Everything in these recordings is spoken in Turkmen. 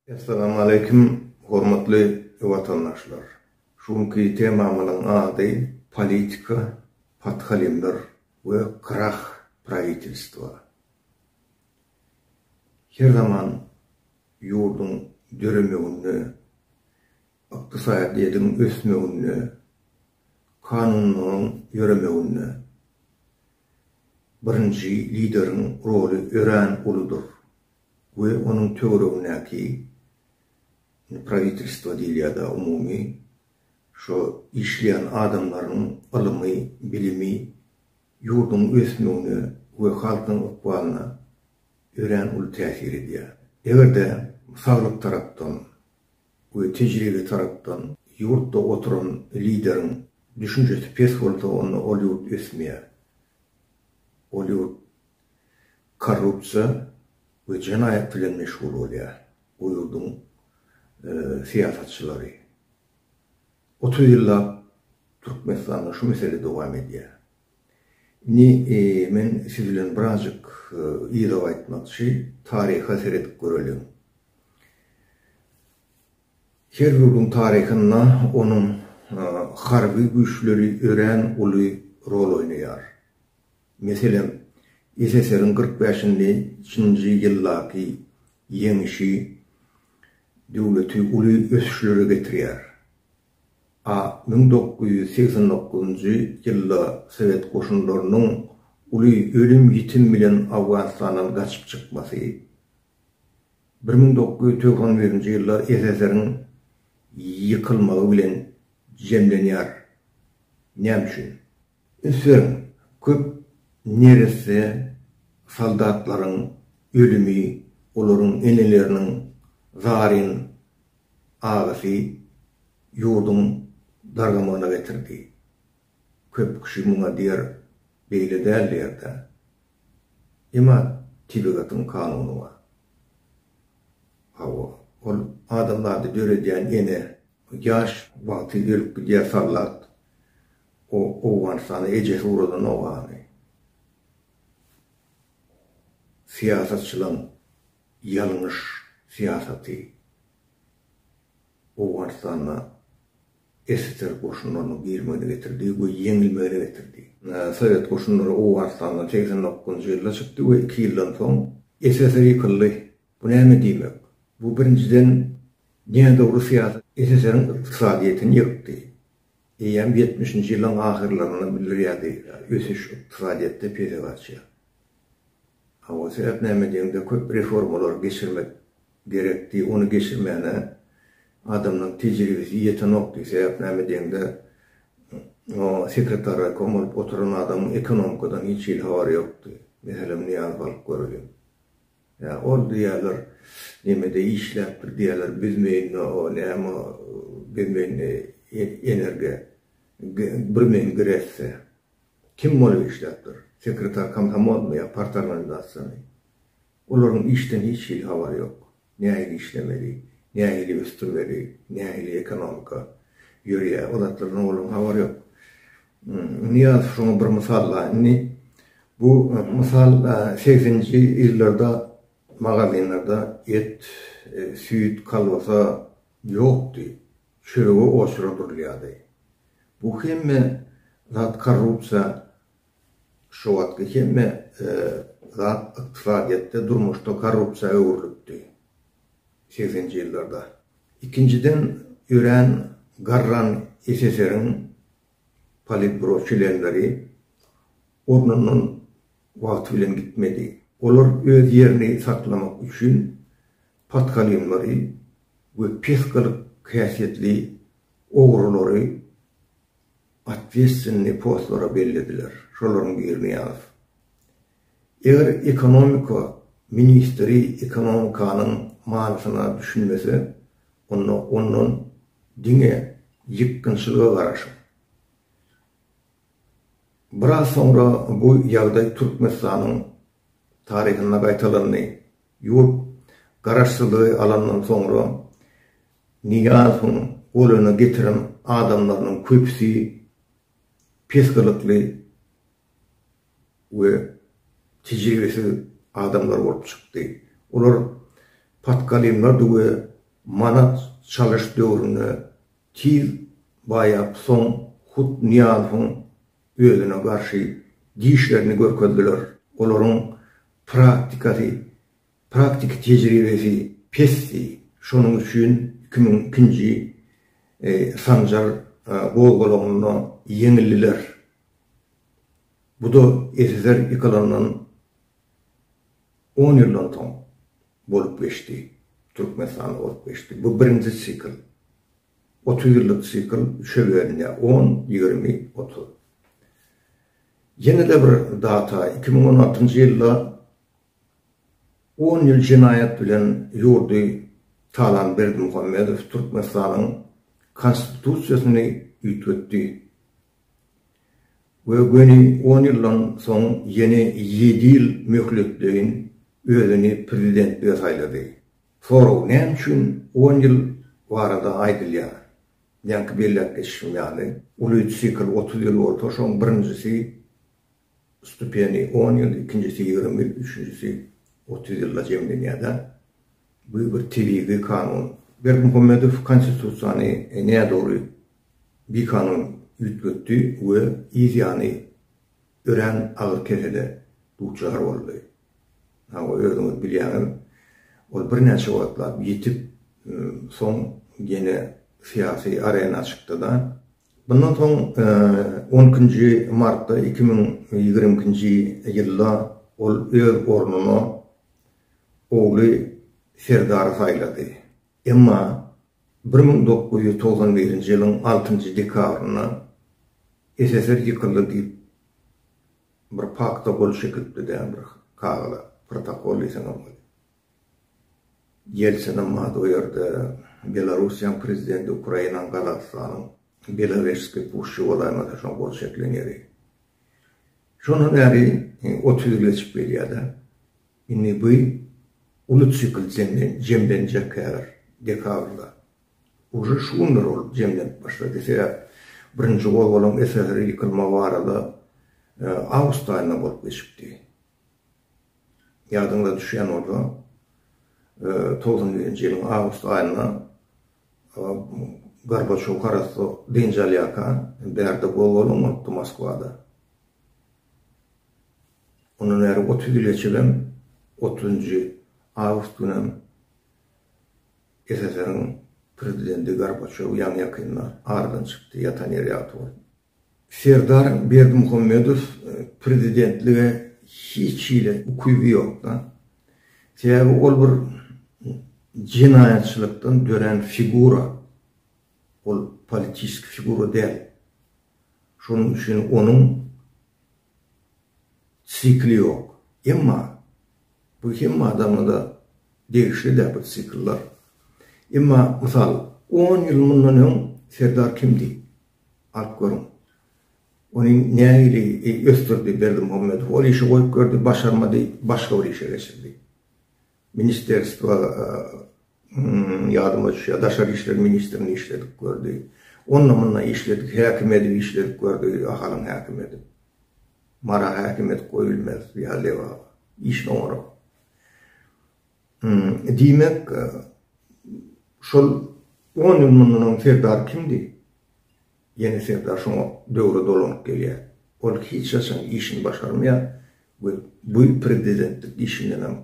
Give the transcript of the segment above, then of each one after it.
Essalamaleýkum hormatly watandaşlar. Şu günki temamyzyň ady politika podhalimler we krah prawitilstwa. Her zaman ýurduň döremeginde, ykdysadyýetiň ösmeginde Kanunlaryň ýöremeginde birinji lideriň roly örän uludyr we onuň töweregindäki, indi prawitelstwo diýilýär-de umumy, şo işleýän adamlaryň ylymy, bilimi ýurduň ösmegine we halkyň ykbalyna örän uly täsir edýär. Eger-de saglyk tarapdan, we tejribe tarapdan ýurtda oturan lideriň düşünjesi pes bolsa onda ol ýurt ösmeýär. Ol ýurt korrupsiýa we jenaýat bilen meşgul bolýar. O ýurduň syýasatçylary. Otuz ýyllap Türkmenistanda şu mesele dowam edýär. Indi men siz bilen birazjyk yza gaýtmakçy, taryha seredip göreliň. Her ýurduň taryhynda onuň harby güýçleri örän uly rol oýnaýar. Meselem, SSR-iň kyrk bäşinji nji ýyldaky ýeňişi döwleti uly ösüşlere getirýär. A müň dokuz ýüz segsen dokuzynjy ýylda sowet goşunlarynyň uly ölüm-ýitim bilen Owganystandan gaçyp çykmasy, Bir müň dokuz ýüz togsan birinji ýyllar SSR-iň ýykylmagy bilen jemlenýär. Näme üçin? Ünseriň, köp neresse soldatlaryň ölümi, olaryň eneleriniň zaryn agysy ýurduň dargamagyna getirdi. Köp kişi muňa diýer, beýle däl diýerkä. Emma tebigatyň kanuny bar. Hawa, ol adam zady döredýän ene ýaş wagty ölüp gidýär sallat. O Owganystana ejesi ugradan ogany. Syýasatçylaň ýalňyş syýasaty Owganystanda SSR goşunlarynyň girimegine getirdi we ýeňilmegine getirdi. Sowet goşunlary Owganystandan segsen dokuzynjy ýylda çykdy we iki ýyldan soň SSR ýykyldy. Bu näme diýmek? Bu birinjiden nädogry syýasat SSR-iň ykdysadyýetini ýykdy. Eýýäm ýetmişinji ýyllaryň ahyrlaryndan bildirýärdi, ösüş ykdysadyýetde pese gaçýar. Hawa sebäp näme diýeňde köp reformalar geçirmek gerekdi ony geçirmäne adamlaň tejribesi ýetenokdy sebäp näme diýeňde o sekretar raykom bolup oturan adamyň ekonomikadan hiç hili habary ýokdy meselem Nyýazow alyp göreliň ýa ol diýýäler nemede işläpdir diýýäler bizmeýinde o näme bizmeýinde energe birmeýin gresde. Kim bolup işläp dur? Sekretar komsomolmy ýa partorganizasiýamy? Olaryň işden hiç hili habary ýok. Nähili işlemeli, nähili ösdürmeli, nähili ekonomika ýörýär, o zatlardan olaryň habary ýok. Nyýazow şoňa bir mysal bar. Indi bu mysal segsenji ýyllarda magazinlerde et, süýt, kolbasa ýokdy. çörege oşura durulýardy. Bu hemme zat korrupsiýa şu wagtky hemme zat ykdysadyýetde durmuşda korrupsiýa öwrülipdi segsenji ýyllarda. Ikinjiden örän garran SSR-iň politburo çlenleri ornundan wagty bilen gitmedi. Olar öz ýerini saklamak üçin Podkalinlary we pes gylyk häsiýetli ogrulary otwestwennyý postlara bellediler, şolaryň birini ýaz. Eger ekonomika ministri ekonomikanyň manysyna düşünmese, onda ondan diňe ýykgynçylyga garaşyň. Biraz soňra bu ýagdaý Türkmenistanyň taryhynda gaýtalandy, Ýurt Garaşsyzlygy alandan soňra Nyýazowyň goluna getiren adamlarynyň köpüsi pes gylykly we tejribesiz adamlar bolup çykdy. Olar patkalimlerdi we manat çalyş döwründe tiz baýap soň hut Nyýazowyň özüne garşy dişlerini görkezdiler. Olaryň praktikasy, praktiki tejribesi pesdi. Şonuň üçin iki müň ikinji sanjar gozgalaňynda ýeňildiler. Bu-da SSR ýykylandan on ýyldan soň bolup geçdi, Türkmenistanda bolup geçdi. Bu birinji sikl. Otuz ýyllyk sikl üçe bölünýär, on, ýigrimi, otuz. Ýene-de bir data, iki müň on altynjy ýylda on ýyl jenaýat bilen ýurdy talan Berdimuhamedow Türkmenistanyň Konstitusiýasyny üýtgetdi we göni on ýyldan soň ýene ýedi ýyl möhletleýin özüni prezidentlige saýlady. Sorag näme üçin on ýyl barada aýdylýar? Ýaňky belläp geçişim ýaly, uly sikl otuz ýyl bolsa, şoň birinjisi stupeni on ýyl, ikinjisi ýigrimi, üçünjisi otuz ýylda jemlenýärda. Bu bir tebigy kanun. Berdimuhamedow konstitusiýany nädogry, bikanun üýtgetdi we yz ýany örän agyr kesele duçar boldy. Hawa, özüňiz bilýäňiz, ol birnäçe wagtlap ýitip, soň ýene syýasy arena çykdy-da. Mundan soň on ikinji martda iki müň ýigrimi ikinji ýylda ol öz ornuna ogly Serdary saýlady. Emma bir müň dokuz ýüz togsan birinji ýylyň altynjy dekabrynda SSR ýykyldy diýip bir pakta gol çekilipdi dä bir kagyza, protokol diýseňem bolýar. Ýeltsinim bar o ýerde, Belarussiýaň prezidenti, Ukrainaň, Gazagystanyň, Belovežskiý puşşy bolaýmasa şoň gol çekilen ýeri. Şondan bäri otuz ýyl geçip gelýär-de. Indi bu uly sikl jemlenjek häzir dekabrda. Uje şu günler ol jemlenip başlady. Sebäp birinji gozgalaň SSR ýykylma barada awgust aýynda bolup geçipdi. Ýadyňyza düşýän bolsa togsan birinji ýylyň awgust aýynda Gorbaçow harasda dynç alýarka bärde gozgalaň bolupdy Moskwada. Ondan bäri otuz ýyl geçibem, otuzynjy awgust günem SSR-iň Prezidenti Gorbaçýow ýaňy-ýakynda aradan çykdy, ýatan ýeri ýagty bolsun. Serdar Berdimuhamedow prezidentlige hiç hili ukyby ýok-da. Sebäbi ol bir jenaýatçylykdan dörän figura. Ol politiski figura däl. Şonuň üçin onuň sikli ýok. Emma bu hemme adamada degişli däl bu sikllar. Emma mysal, on ýyl mundan öň Serdar kimdi? Alyp görüň. Ony nähili ösdürdi Berdimuhamedow? Ol işi goýup berdi, başarmady, başga bir işe geçirdi. Ministrstwa ýadyma düşýär, daşary işler ministrini işledik gördi. Onda munda işledik, häkim edip işledik gördi, Ahalyň häkim edip. Mara häkim edip goýulmaz ýa Lebaba. Işin oňarak. Diýmek, şol on ýyl mundan öň Serdar kimdi? Ýene Serdar şoňa döwre dolanyp gelýär. Ol hiç haçan işini başarmaýar we bu prezidentlik işindenem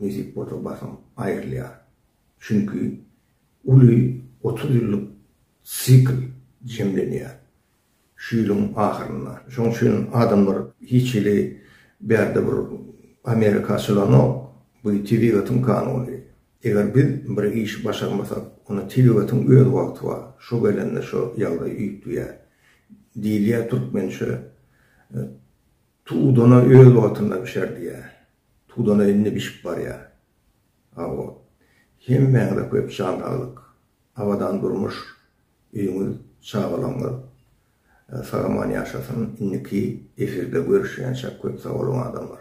nesip bolsa basym aýrylýar. Çünki uly otuz ýyllyk sikl jemlenýär şu ýylyň ahyrynda. Şoň üçin adamlar hiç hili bärde bir Amerika açylanok, bu tebigatyň kanuny. Eger biz bir işi başarmasak, onda tebigatiň öz wagty bar, şo gelende şo ýagdaý üýtgýär. Diýilýär türkmençe, Tudana öz wagtynda bişer diýýär. Tudana indi bişip barýar. Hawa. Hemmäňize köp jan saglyk, abadan durmuş, öýüňiz, çagalaryňyz sagaman ýaşasyn. Indiki efirde görüşýänçäk köp sag boluň adamlar.